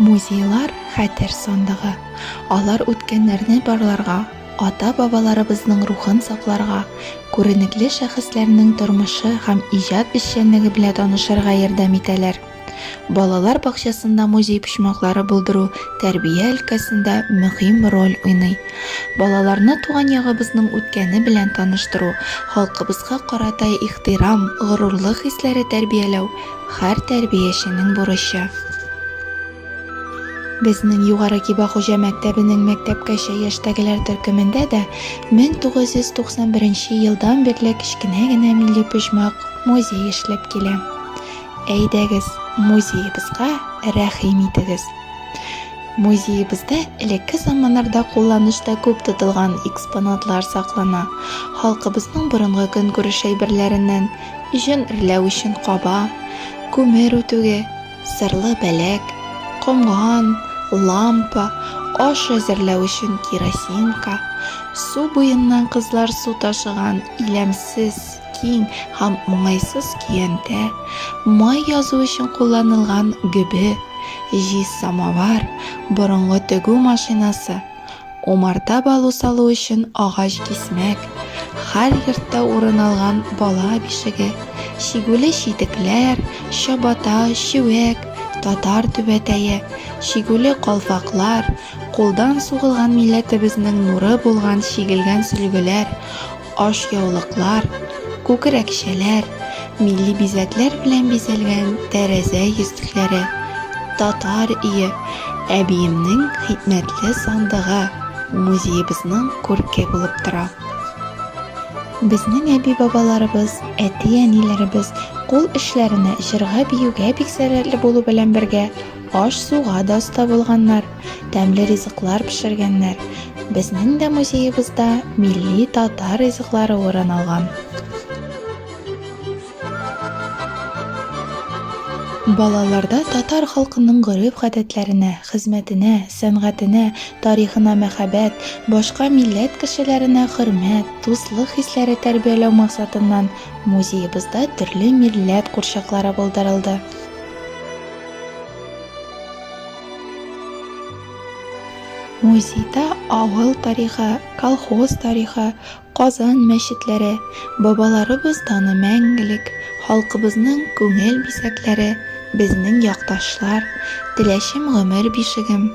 Музейлар хәтер сандыгы. Алар үткәннәрне барларга, ата-бабаларыбызның рухын сакларга, күренекле шәхесләрнең тормышы һәм иҗат эшчәнлеге белән танышырга ярдәм итәләр. Балалар бакчасында музей почмаклары булдыру тәрбия өлкәсендә мөһим роль уйный. Балаларны туган ягыбызның үткәне белән таныштыру, халкыбызга карата ихтирам, горурлык хисләре тәрбияләү, һәр тәрбияченең бурычы. Безнең Югары Киба хуҗа мәктәбенең мәктәпкәчә яшьтәгеләр төркемендә дә 1991 елдан бирле кечкенә генә милли почмак, музей эшләп килә. Әйдәгез, музеебызга рәхим итегез. Музеебызда элекке заманнарда кулланышта күп тотылган экспонатлар саклана. Халкыбызның борынгы көнкүреш әйберләреннән җен эрләү өчен каба, күмер үтүге, сырлы бәләк, комган, лампа, аш әзерләү өчен керосинка, су буеннан кызлар су ташыган иләмсез Киң һәм уңайсыз көянтә, май язу өчен кулланылган гөбе, җиз самовар, борынгы тегү машинасы, умарта балу салу өчен агач кисмәк, хәр йортта урын алган бала бишеге, чигүле читекләр, чабата, чүәк, татар түбәтәе, чигүле калфаклар, кулдан сугылган милләтебезнең нуры булган чигелгән сөлгеләр, ашъяулыклар, күкрәкчәләр, милли бизәкләр белән бизәлгән тәрәзә йөзлекләре, татар өе, әбиемнең хикмәтле сандыгы музеебызның күрке булып тора. Безнең әби-бабаларыбыз, әти-әниләребез кул эшләренә, җырга-биюгә бик сәләтле булу белән бергә, Аш-суга да оста булганнар, тәмле ризыклар пешергәннәр. Безнең дә музеебызда милли татар ризыклары урын алган. Балаларда татар халкының гореф-гадәтләренә, хезмәтенә, сәнгатенә, тарихына мәхәббәт, башка милләт кешеләренә хөрмәт, дуслык хисләре тәрбияләү максатыннан музеебызда төрле милләт курчаклары булдырылды. Музейда авыл тарихы, колхоз тарихы, Казан мәчетләре, бабаларыбыз даны мәңгелек, халкыбызның күңел бизәкләре, безнең якташлар, Теләчем гомер бишегем,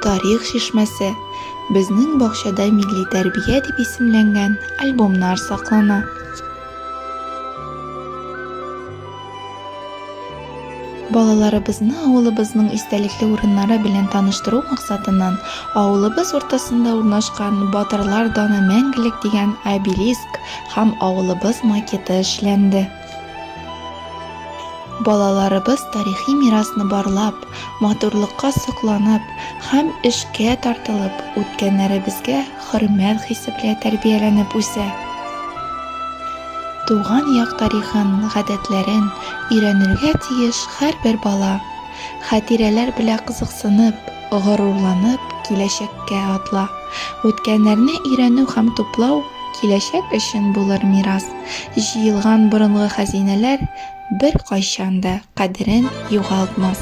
Тарих чишмәсе, Безнең бакчада милли тәрбия дип исемләнгән альбомнар саклана. Балаларыбызны авылыбызның истәлекле урыннары белән таныштыру максатыннан авылыбыз уртасында урнашкан Батырлар даны мәңгелек дигән обелиск һәм авылыбыз макеты эшләнде. Балаларыбыз тарихи мирасны барлап, матурлыкка сокланып һәм эшкә тартылып, үткәннәребезгә хөрмәт хисе белән тәрбияләнеп үсә. Туган як тарихын, гадәтләрен өйрәнергә тиеш һәрбер бала. Хатирәләр белән кызыксынып, горурланып киләчәккә атла. Үткәннәрне өйрәнү һәм туплау киләчәк өчен булыр мирас. Җыелган борынгы хәзинәләр беркайчан да кадерен югалтмас.